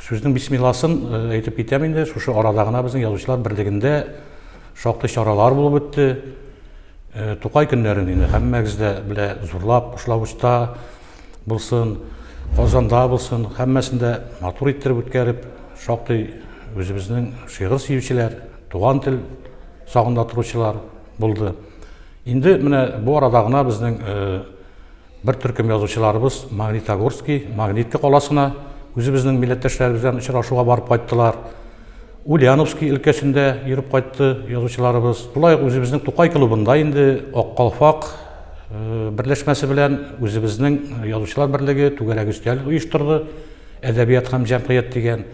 Сүзнең бисмилласын әйтеп китәм инде. Шушы арада гына безнең язучылар берлегендә шактый чаралар булып үтте. Тукай көннәрен инде һәммәгез дә белә, зурлап Кушлавычта булсын, Казанда булсын, һәммәсендә матур иттереп үткәреп, шактый үзебезнең шигырь сөючеләр, туган тел сагында торучылар булды. Инде менә бу арада гына безнең Бер төркем язучыларыбыз Магнитогорски, Магнитка каласына үзебезнең милләттәшләребез белән очрашуга барып кайттылар. Ульяновски өлкәсендә йөреп кайтты язучыларыбыз. Шулай ук үзебезнең Тукай клубында инде Ак калфак э, берләшмәсе белән үзебезнең язучылар берлеге түгәрәк өстәл оештырды. Әдәбият һәм җәмгыять дигән.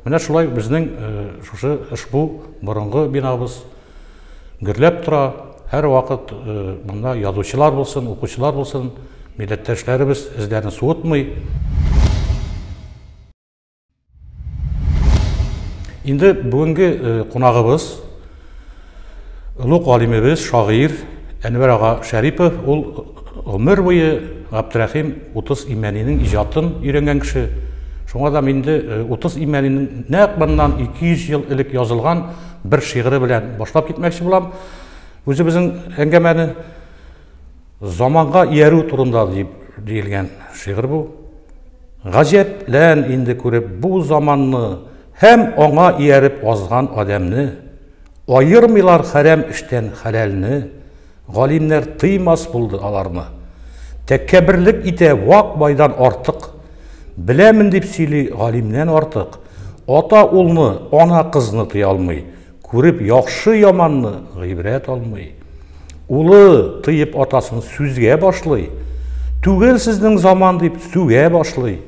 Менә шулай безнең э, шушы ышбу борынгы бинабыз гөрләп тора. Һәрвакыт э, монда язучылар булсын, укучылар булсын, милләттәшләребез эзләрен суытмый. Инде бүгенге э, кунагыбыз олуг галимебез, шагыйрь Әнвәр ага Шәрипов, ул Гомер буе Габдрәхим Утыз Имәнинең иҗатын өйрәнгән кеше. Шуңа да инде Утыз Имәнинең нәкъ моннан 200 ел элек язылган бер шигыре белән башлап китмәкче булам үзебезнең әңгәмәне. Заманга иярү турында дип диелгән шигырь бу. Гаҗәплән инде күреп бу заманны һәм аңа ияреп азган адәмне, Аермыйлар хәрәм эштән хәләлне. Галимнәр тыймас булды аларны. Тәккәберлек итә вак байдан артык. Беләмен дип сөйли галимнән артык. Ата улны, ана кызны тыя алмый. Күреп яхшы яманны гыйбрәт алмый. Улы тыеп атасын сүзгә башлый. Түгел сезнең заман дип сүгә башлый.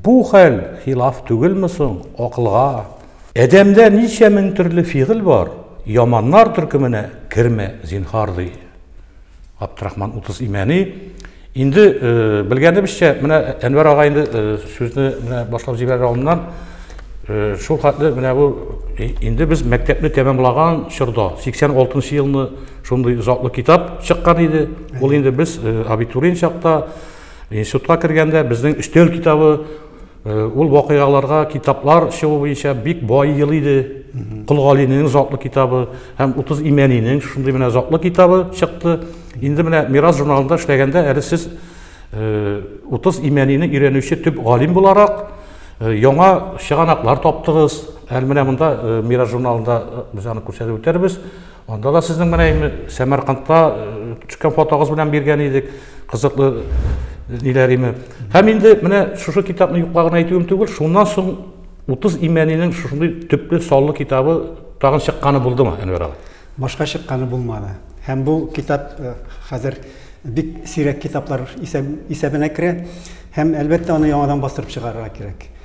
Бу хәл хилаф түгелме соң акылга? Адәмдә ничә мең төрле фигыль бар, яманнар төркеменә кермә, зинһар, ди Габдрахман Утыз Имәни. Инде белгәнебезчә, менә Әнвәр ага инде сүзне менә башлап җибәрер алдыннан шул хәтле менә бу инде без мәктәпне тәмамлаган чорда, 86 елны шундый затлы китап чыккан иде. Ул инде без абитуриент чакта институтка кергәндә безнең өстәл китабы Ул вакыйгаларга китаплар чыгу буенча бик бай ел иде. Кол Галинең затлы китабы һәм 30 имәнинең шундый менә затлы китабы чыкты. Инде менә Мирас журналында эшләгәндә әле сез 30 э, имәнине өйрәнүче төп галим буларак э, яңа чыганаклар таптыгыз. Әле менә монда э, Мирас журналында без аны күрсәтеп үтәрбез. Анда да сезнең менә инде Сәмәркандта э, төшкән фотогыз белән биргән идек. Кызыклы э, ниләр име. Һәм инде менә шушы китапны юклагын әйтүем түгел, шуннан соң 30 имәнинең шушындый төпле саллы китабы тагын чыкканы булдымы, Әнвәр абый? Башка чыкканы булмады. Һәм бу китап э, хәзер бик сирәк китаплар исәбенә керә. Һәм әлбәттә аны яңадан бастырып чыгарырга кирәк.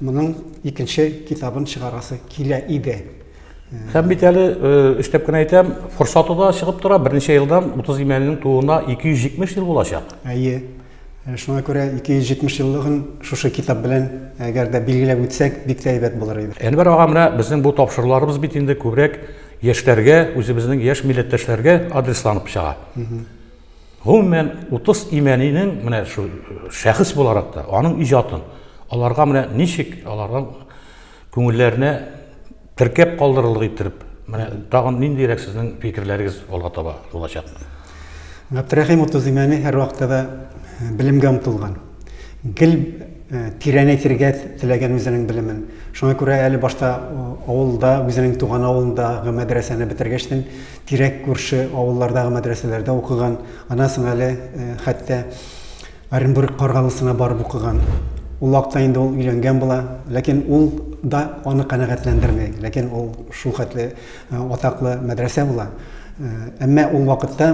Моның икенче китабын чыгарасы килә иде. Һәм бит әле өстәп кенә әйтәм, форсаты да чыгып тора. Берничә елдан 30 имәннең тууына 270 ел булачак. Әйе. Шуңа күрә 270 еллыгын шушы китап белән әгәр дә билгеләп үтсәк, бик тә әйбәт булыр иде. Әнвәр ага, менә безнең бу тапшыруларыбыз бит инде күбрәк яшьләргә, үзебезнең яшь милләттәшләргә адресланып чыга. Гомумән, Утыз Имәнинең менә шу шәхес буларак та, аның иҗатын, аларга менә ничек аларга күңелләренә теркәп калдырырлык иттереп, менә тагын ниндирәк сезнең фикерләрегез алга таба булачак? Габдрәхим Утыз Имәни һәрвакытта да белемгә омтылган. Гел тирәнәйтергә теләгән үзенең белемен. Шуңа күрә әле башта авылда, үзенең туган авылындагы мәдрәсәне бетергәчтен, тирәк күрше авыллардагы мәдрәсәләрдә укыган, аннан соң әле э, хәтта Оренбург Каргалысына барып укыган. Ул вакытта инде ул өйләнгән була, ләкин ул да аны канәгатьләндерми, ләкин ул шул хәтле э, атаклы мәдрәсә була. Э, әмма ул вакытта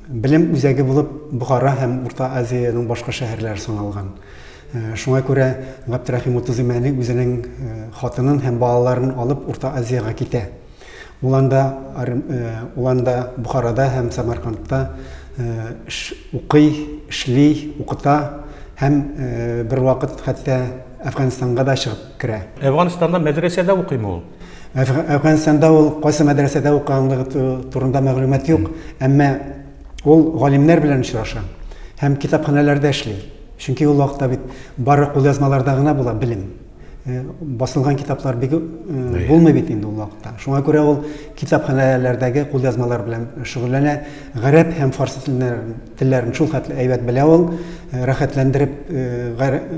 белем үзәге булып Бухара һәм Урта Азиянең башка шәһәрләре саналган. Э, шуңа күрә Габдрахим Утызимәни үзенең хатынын һәм балаларын алып Урта Азиягә китә. Ул анда, ул анда Бухарада һәм Самаркандта укый, эшли, укыта һәм бервакыт хәтта Әфганстанга да чыгып керә. Әфганстанда мәдрәсәдә укыймы ул? Әфганстанда ул кайсы мәдрәсәдә укыганлыгы турында мәгълүмат юк, әмма ул галимнәр белән очраша һәм китапханәләрдә эшли. Чөнки ул вакытта бит бары кулъязмаларда гына була белем. Э, басылган китаплар бик э, булмый бит инде ул вакытта шуңа күрә ул китапханәләрдәге кулъязмалар белән шөгыльләнә гарәп һәм фарсы телләрен, телләрен шул хәтле әйбәт белә ул э, рәхәтләндереп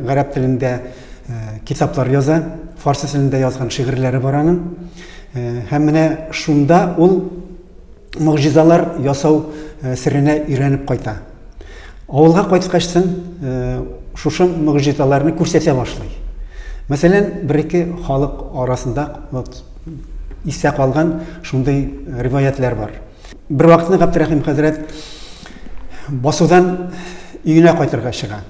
гарәп телендә китаплар яза фарсы телендә язган шигырьләре бар аның һәм менә шунда ул могҗизалар ясау серенә өйрәнеп кайта Авылга кайткач соң, э, шушы мөгъҗизаларны күрсәтә башлый. Мәсәлән, бер-ике халык арасында вот истә калган шундый риваятлар бар. Бер вакытны Габдрахим хәзрәт басудан өенә кайтырга чыга.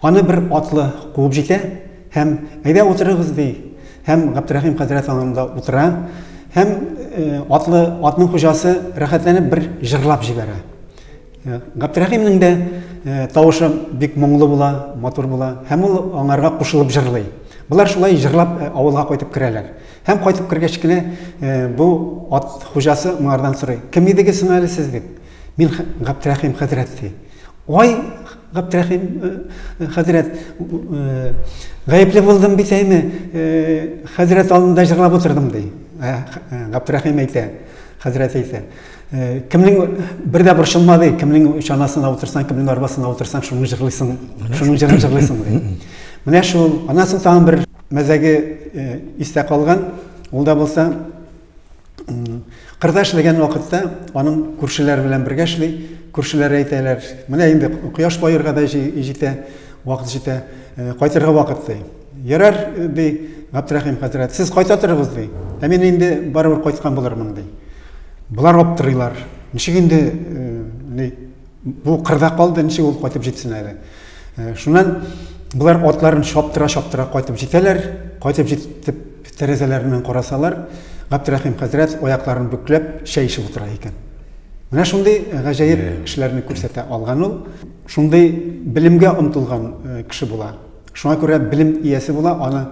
Аны бер атлы куып җитә һәм әйдә утырыгыз ди. Һәм Габдрахим хәзрәт аңында утыра һәм э, атлы атның хуҗасы рәхәтләнеп бер җырлап җибәрә. Э, Габдрәхимнең дә э, тавышы бик моңлы була, матур була, һәм ул аңарга кушылып җырлый. Болар шулай җырлап э, авылга кайтып керәләр. Һәм кайтып кергәч кенә бу ат хуҗасы моңардан сорый. Кем идегез соң әле сез дип? Мин Габдрәхим хәзрәт ди. Ой, Габдрәхим хәзрәт, гаепле булдым бит әйме, хәзрәт алдында җырлап утырдым ди. Габдрәхим әйтә, хәзрәт әйтә. Э, кемнең бер дә борчылма ди кемнең чанасына утырсаң кемнең арбасына утырсаң шуны җырлыйсың шуның җырын җырлыйсың ди менә шул аннан соң тагын бер мәзәге э, истә калган ул да булса кырда эшләгән вакытта аның күршеләр белән бергә эшли күршеләр әйтәләр менә инде кояш баерга да җитә вакыт җитә э, кайтырга вакыт ди Ярар, ди Габдрәхим хәзрәт, сез кайта торыгыз, ди. Ә мин инде барыбер кайткан булырмын, ди. Болар аптырыйлар. Ничек инде э, бу кырда калды, ничек ул кайтып җитсен әле? Э, шуннан болар атларын шаптыра-шаптыра кайтып җитәләр. Кайтып җитеп тәрәзәләреннән карасалар, Габдрәхим хәзрәт аякларын бөкләп чәй эчеп утыра икән. Менә шундый э, гаҗәеп эшләрне күрсәтә алган ул. Шундый белемгә омтылган кеше була. Шуңа күрә белем иясе була, аны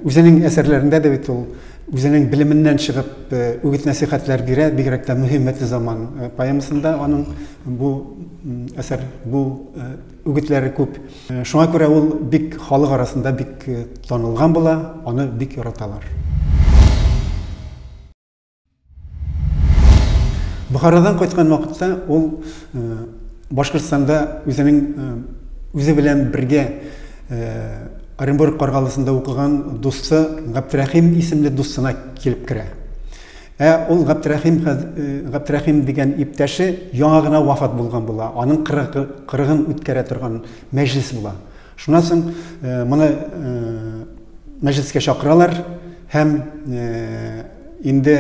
үзенең әсәрләрендә дә бит ул үзенең белеменнән чыгып үгет-нәсихәтләр бирә, бигрәк тә мөһим мәтле заман поэмасында аның бу әсәр, бу үгетләре күп. Шуңа күрә ул бик халык арасында бик танылган була, аны бик яраталар. Бухарадан кайткан вакытта ул Башкортстанда үзенең үзе белән бергә Оренбург каргалысында укыган дусты Габдрәхим исемле дустына килеп керә. Ә ул Габдрәхим Габдрәхим дигән иптәше яңа гына вафат булган була. Аның 40 кырыгын үткәрә торган мәҗлис була. Шуннан соң моны мәҗлескә чакыралар һәм инде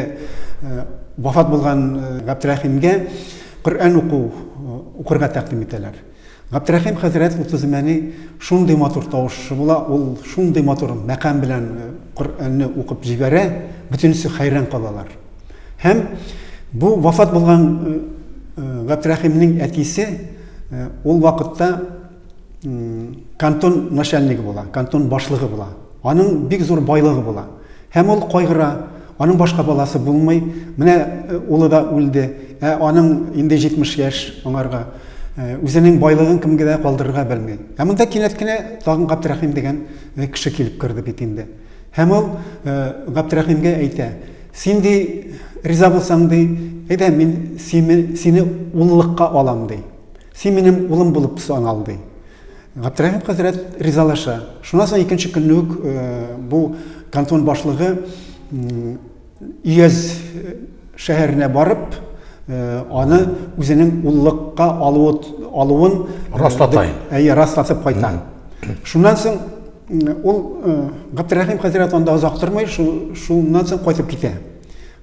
вафат булган Габдрәхимгә Коръән уку укырга тәкъдим итәләр. Габдрәхим хәзрәт Утызмәни шундый матур тавышы була, ул шундый матур мәкам белән Коръәнне укып җибәрә, бөтенесе хәйран калалар. Һәм бу вафат булган Габдрәхимнең әтисе ул вакытта кантон начальнигы була, кантон башлыгы була. Аның бик зур байлыгы була. Һәм ул кайгыра, аның башка баласы булмый. Менә э, улы да үлде. Ә аның инде 70 яшь аңарга э, үзенең байлыгын кемгә дә калдырырга белми. Ә монда кинәт кенә тагын Габдрәхим дигән э, кеше килеп керде бит инде. Һәм ул Габдрәхимгә әйтә: "Син ди риза булсаң ди, әйдә мин сине сине уллыкка алам ди". Син минем улым булып санал, ди. Габдрәхим хәзрәт ризалаша. Шуннан соң икенче көнне үк э, бу кантон башлыгы Ияз э, шәһәренә барып, э, аны үзенең уллыкка алуы, алуын раслата. Әйе, раслатып кайта. Шуннан соң ул Габдрәхим хәзрәт анда озак тормый, шуннан соң кайтып китә.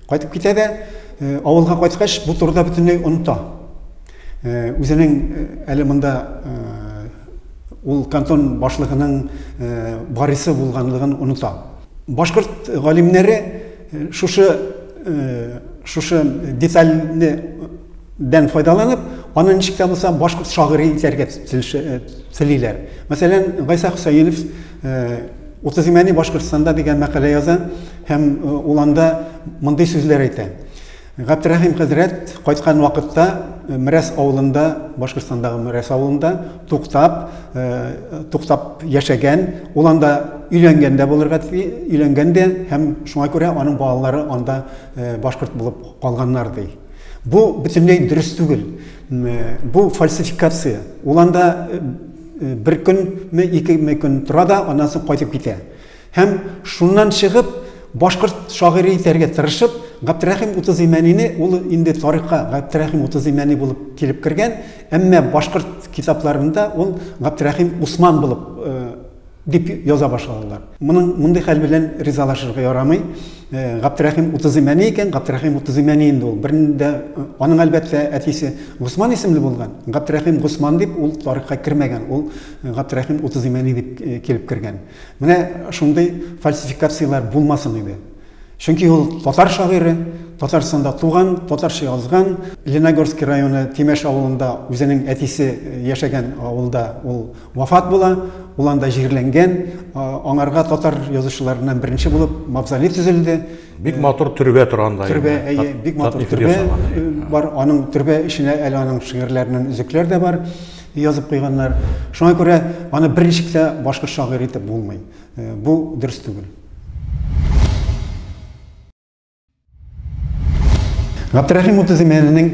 Кайтып китә дә, авылга кайткач, бу турыда бөтенләй оныта. Үзенең әле монда ул кантон башлыгының барисы булганлыгын оныта. Башкорт галимнәре шушы шушы детальне дән файдаланып, аны ничек тә булса башкорт шагыйре итәргә телиләр. Мәсәлән, Гайса Хөсәенов Уртаземьяне Башкортстанда дигән мәкалә яза һәм ул анда мондый сүзләр әйтә. Габдрәхим хәзрәт кайткан вакытта Мрәс авылында, Башкортстандагы Мрәс авылында туктап, туктап яшәгән, ул анда өйләнгән дә булырга өйләнгән дә һәм шуңа күрә аның балалары анда башкорт булып калганнар ди. Бу бөтенләй дөрес түгел. Бу фальсификация. Ул анда бер көнме, икеме көн тора да, аннан соң кайтып китә. Һәм шуннан чыгып, башкорт шагыйре итәргә тырышып, Габдрәхим Утызимәнине, ул инде тарихка Габдрәхим Утызимәни булып килеп кергән, әмма башкорт китапларында ул Габдрәхим Усман булып Дип яза башладылар. Моның мондый хәл белән ризалашырга ярамый. Э, Гаптирәхим Утызыйм әни икән, Гаптирәхим Утызыйм әни инде ул. Бернидә э, аның әлбәттә әтисе Госман исемле булган. Гаптирәхим Госман дип ул тарихка кермәгән. Ул э, Гаптирәхим Утызыйм әни дип килеп кергән. Менә шундый фальсификацияләр булмасын иде. Чөнки ул татар шагыйре, Татарстанда туган, татарча язган, Леногорский районы Тимеш авылында үзенең әтисе яшәгән авылда ул Вафат була, ул анда җирләнгән, аңарга татар язучыларыннан беренче булып мавзолей төзелде. Бик матур төрбә торганда. Төрбә, әйе, бик матур төрбә э, бар. Аның төрбә эченә әле аның шигырьләреннән өзекләр дә бар язып куйганнар. Шуңа күрә аны берничек тә башка шагыйрь итеп булмый. Э, бу дөрес түгел. Габдрахим Утызимәлнең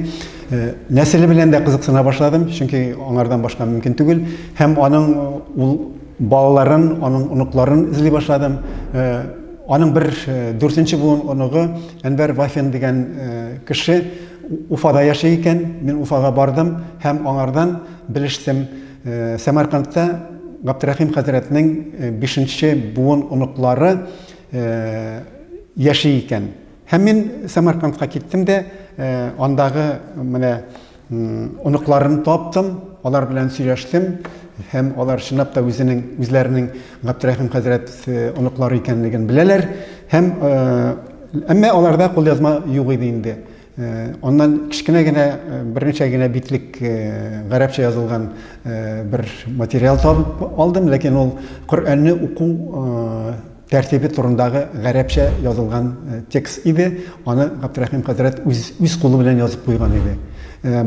нәселе белән дә кызыксына башладым, чөнки аңардан башка мөмкин түгел, һәм аның ул балаларын, аның оныкларын эзли башладым. Аның бер дүртенче буын оныгы Әнвәр Вафин дигән кеше Уфада яши икән. Мин Уфага бардым һәм аңардан белештем. Сәмәркандта Габдрахим хәзрәтнең бишенче буын оныклары яши икән. Һәм мин Самаркандка киттем дә, андагы менә оныкларын таптым, алар белән сөйләштем һәм алар чынлап та үзенең үзләренең Габдрәхим хәзрәт оныклары икәнлеген беләләр һәм әмма аларда кулъязма юк иде инде. Аннан кечкенә генә, берничә генә битлек гарәпчә язылган бер материал табып алдым, ләкин ул Коръәнне уку тәртибе турындагы гарәпчә язылган текст иде. Аны Габдрәхим хәзрәт үз үз кулы белән язып куйган иде.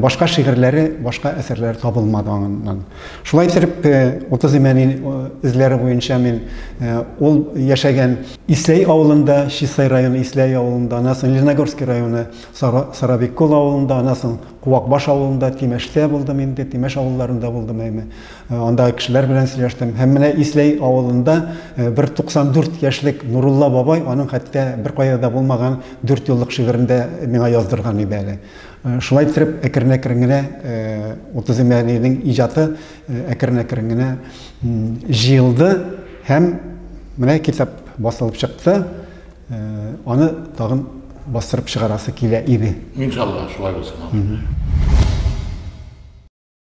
Башка шигырьләре, башка әсәрләре табылмады аннан. Шулай итеп, 30 э, имәни э, эзләре буенча мин э, ул яшәгән Исләй авылында, Чистай районы Исләй авылында, анасын Леногорский районы Сарабеккол авылында, анасын Куакбаш авылында, Тимәштә булдым инде, Тимәш авылларында булдым әйме. Анда кешеләр белән сөйләштем. Һәм менә Исләй авылында бер 94 яшьлек Нурулла бабай аның хәтта бер кая да булмаган 4 еллык шигырендә миңа яздырган иде әле. Шулай иттереп, әкрен-әкрен генә Утыз Имәниевнең иҗаты әкрен-әкрен генә җыелды һәм менә китап басылып чыкты. Аны тагын бастырып чыгарасы килә иде. Иншалла, шулай булсын.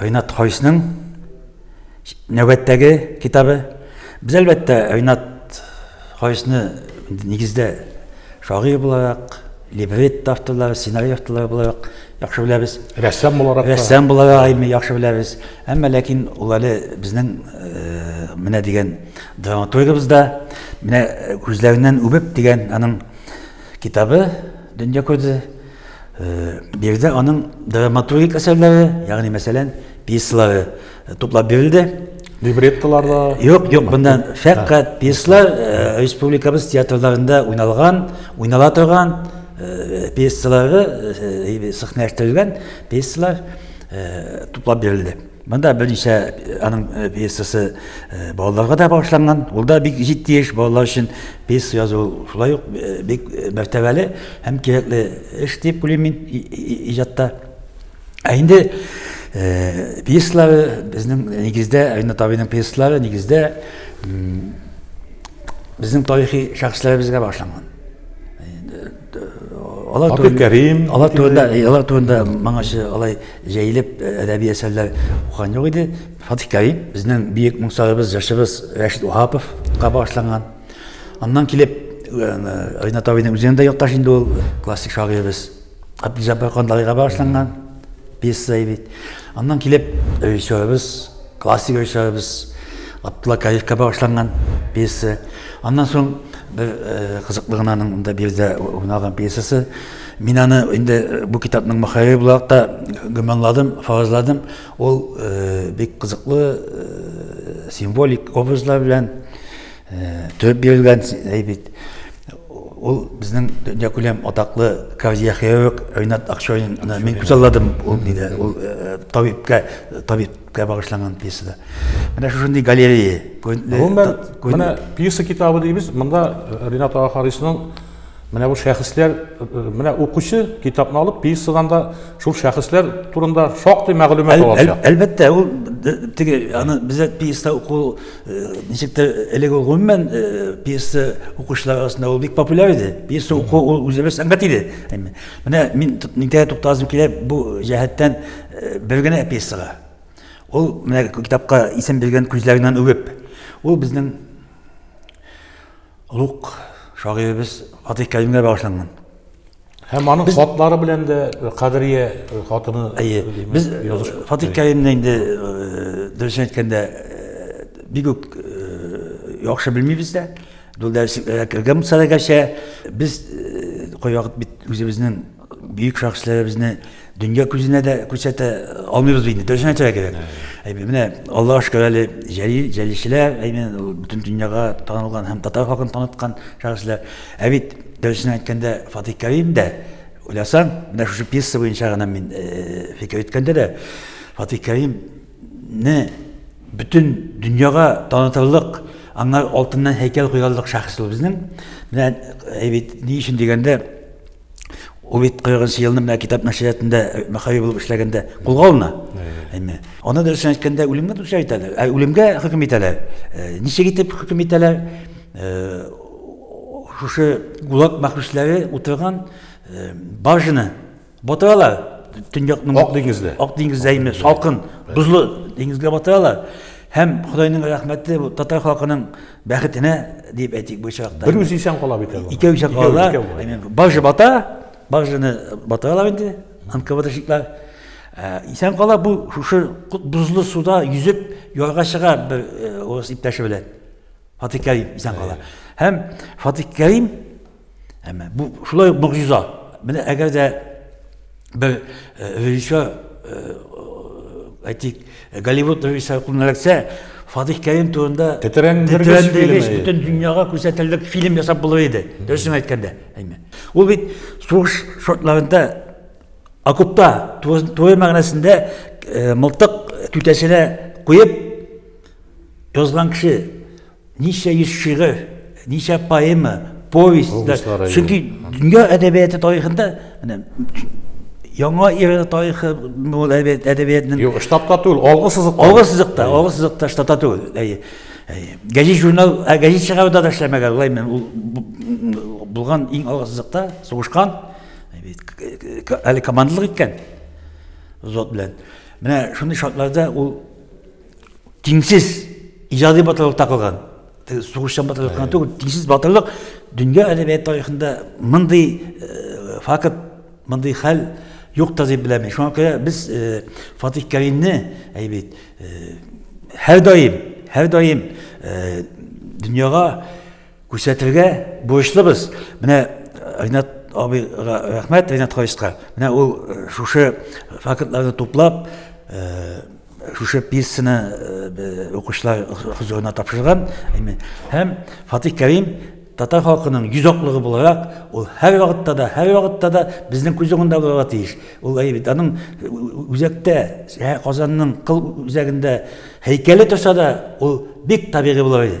Ринат Хайсның нәүбәттәге китабы. Без әлбәттә Ринат Хайсны нигездә шагыйрь буларак, либретто авторлары, сценарий авторлары буларак яхшы беләбез. Рәссам буларак. Рәссам буларак әйме яхшы беләбез. Әмма ләкин ул әле безнең э, менә дигән драматургыбыз да менә күзләреннән үбеп дигән аның китабы дөнья күрде. Биредә аның драматургик әсәрләре, ягъни мәсәлән, пьесалары туплап бирелде. Либреттолар да? Юк, юк, монда фәкать пьесалар республикабыз театрларында уйналган, уйнала торган пьесалары сәхнәләштергән пьесалар туплап бирелде. Монда берничә аның пьесасы балаларга да багышланган. Ул да бик җитди эш, балалар өчен пьеса язу шулай ук бик мәртәбәле һәм кирәкле эш дип уйлыйм мин иҗатта. Ә инде пьесалары безнең нигездә Ринат абыйның пьесалары нигездә безнең тарихи шәхесләребезгә багышланган. Алар Апи Кәрим. Алар турында, алар турында моңача алай җәелеп әдәби әсәрләр укыган юк иде. Фатих Кәрим безнең биек моңсарыбыз, җырчыбыз Рәшит Уһаповка багышланган. Аннан килеп Ринат абыйның үзенә дә якташ инде ул классик шагыйребез. Абдулҗаббар Кандалыйга багышланган пьеса бит. Аннан килеп, режиссерыбыз, классик режиссерыбыз Абдулла Кариевка багышланган пьеса. Аннан соң бер э, кызыклы гына аның монда биредә уйналган пьесасы. Мин аны инде э, бу китапның мөхәррире буларак та гөманладым, фаразладым. Ул э, бик кызыклы символик образлар белән төреп бирелгән әйбит. Ул безнең дөньякүләм атаклы кардиохирург Ринат Акчурин. Мин күзалладым ул диде, ул табибка, табиб кә багышланган пьесада. Менә шушындый галерея. Гомумән, менә пьеса китабы дибез, монда э, Ринат ага Харисның менә бу шәхесләр, э, э, менә укучы китапны алып, пьесадан да шул шәхесләр турында шактый мәгълүмат ала алачак. Әлбәттә, ул теге аны бездә пьеса уку Ничек тә элек ул гомумән пьеса укучылар арасында ул бик популяр иде. Пьеса уку ул үзе бер сәнгать иде. Менә мин нигә тукталасым килә бу җәһәттән бер генә пьесага. Ул менә китапка исем биргән күзләреннән үбеп. Ул безнең Олуг шагыйребез Фатих Кәримгә багышланган. Һәм аның без... хатлары белән дә Кадрия хатыны Әйе. Без Фатих Кәримне инде дөрес әйткәндә бик үк яхшы белмибез дә. Дулдәр сикләргә кергән булса да гәрчә без кайвакыт бит үзебезнең Бөек шәхесләребезне дөнья күзенә дә күрсәтә алмыйбыз бит инде, дөресен әйтергә кирәк. Әйме, менә Аллаһка шөкер әле җәлил, җәлилчеләр, әйме, бөтен дөньяга танылган һәм татар халкын таныткан шәхесләр. Ә бит, дөресен әйткәндә, Фатих Кәрим дә, уйласаң, менә шушы пьеса буенча гына мин фикер йөрткәндә дә, Фатих Кәримне бөтен дөньяга танытырлык, аңа алтыннан һәйкәл куярлык шәхес ул безнең. Менә, әйбит, ни өчен дигәндә, Ул бит 40 елны менә китап нәшриятында э, мәхәби булып эшләгәндә кулга алына. Әйме. Аны дөрес әйткәндә үлемгә дөрес әйтәләр. Ә үлемгә хөкем итәләр. Э, ничек итеп хөкем итәләр? Э, шушы гулаг мәхбүсләре утырган баржаны батыралар. Төньякның Ак диңгездә. Ак диңгездә име салкын, бозлы диңгезгә батыралар. Һәм Худайның рәхмәте татар халкының Бәхетенә дип әйтик бу чакта. Бер үзе исән кала бит әле. Икәү чак кала. Бажы бата, бажыны батыралар инде. Анкаватышлар э, исән кала бу шушы бузлы суда йөзеп ярга чыга бер э, урыс иптәше белән. Фатик Кәрим исән кала. Һәм Фатик Кәрим Әмма бу шулай ук могҗиза. Менә әгәр дә бер режиссер әйтик, Голливуд режиссеры кулына эләксә, Фатих Кәрим турында тетрәндергеч бөтен дөньяга күрсәтерлек фильм ясап булыр иде. Дөресен әйткәндә, әйме. Ул бит сугыш шартларында окопта туры мәгънәсендә мылтык түтәсенә куеп язган кеше Ничә йөз шигырь, ничә поэма, повесть. Повестьлар, Чөнки дөнья әдәбияты тарихында менә яңа эра тарихы бу әдәбиятның Юк, штабта түгел, алгы сызыкта. Алгы сызыкта, алгы сызыкта штабта түгел. Әйе. Гәҗит журнал, гәҗит чыгаруда да эшләмәгән, лай мен ул булган иң алгы сызыкта сугышкан. Әле командалык иткән. Зот белән. Менә шундый шартларда ул тиңсез иҗади батырлык такылган сугышчан батырлык кына түгел тиңсез батырлык дөнья әдәбият тарихында мондый э, факт мондый хәл юк та дип беләм шуңа күрә без э, фатих кәримне әйбит э, һәрдаим һәрдаим дөньяга күрсәтергә бурычлыбыз менә ринат абыйга рәхмәт ринат хариска менә ул шушы фактларны туплап Шушы пьесаны укучылар хозурына тапшырган һәм Фатих Кәрим татар халкының йөз аклыгы буларак, ул һәр вакытта да, һәр вакытта да безнең күз уңында булырга тиеш. Ул әйе бит, аның үзәктә, Казанның кыл үзәгендә һәйкәле торса да, ул бик табигый булыр иде.